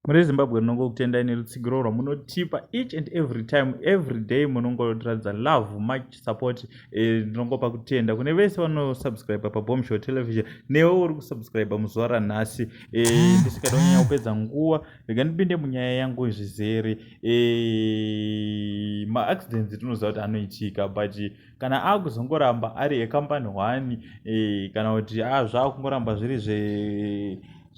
muri zimbabwe rinongokutendai nerutsigiro rwamunotipa each and every time every day munongotiratidza love much support eh, ndinongopa kutenda kune vese vanosubscribe pabomshow television newe uri kusubscribe muzuva ranhasi eh, ndisingada kunyanya kupedza nguva rega ndipinde munyaya yangu zvizere eh, maaccidents tinoziva kuti anoitika but kana akuzongoramba ari ecompany one e, kana kuti a zvaakungoramba zviri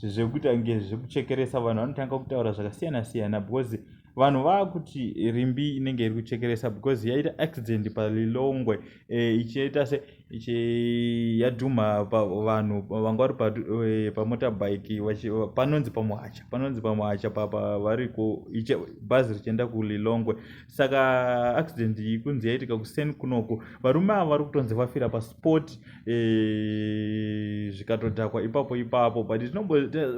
zvekuita kunge zvekuchekeresa vanhu vanotanga kutaura zvakasiyana siyana because vanhu vakuti rimbi inenge iri kuchekeresa because yaita accident palilongwe e, ichiita se yadhumha vanhu vanga vari e, pamotorbike panonzi pamuhacha panonzi pamuhacha papa variko bhazi richienda kulilongwe saka accident iyi kunzi yaitika kuseni kunoko varume ava vari kutonzi vafira pasport eh, zvikatodhakwa ipapo ipapo but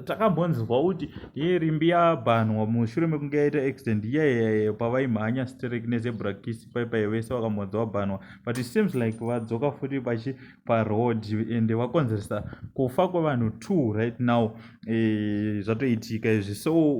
takambonzwa kuti ye rimbi yabhanwa mushure mekunge yaita accident iyaiyaye pavaimhanya strek nezebrakis paipai vese vakambonzi vabhanwa but it seems like vadzoka futi vachi paroad ende wakonzeresa kufa kwevanhu two right now e, zvatoitika izvi so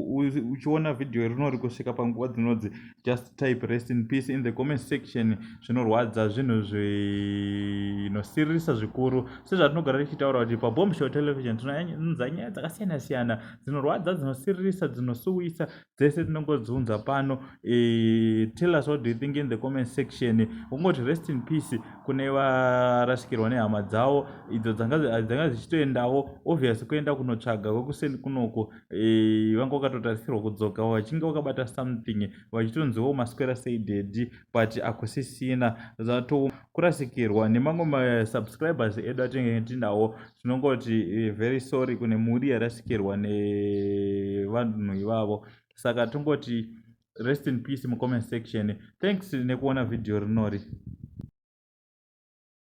uchiona vhidhiyo irino ri kusvika panguva dzinodzi just type rest in peace in the comment section zvinorwadza zvinhu zvinosirisa zvikuru sezvatinogara tichitaura kuti pabomb show television tinounza nyaya dzakasiyana siyana dzinorwadza dzinosiririsa dzinosuwisa dzese tinongodziunza pano e, tell us what do you think in the comment section ungoti rest in peace kune varasikirwa nehama dzavo idzo dzanga dzichitoendawo obvious kuenda kunotsvaga kwekuseni kunoko e, vanga vakatotarisirwa kudzoka vachinge vakabata something vachitonziwo maswera sei dedi but akusisina zvato kurasikirwa nemamwe masubscribers edu atenge tinawo tinongoti eh, very sorry kune mhuri yarasikirwa nevanhu ivavo saka tongoti rest in peace mucomment section thanks nekuona vhidhiyo rinori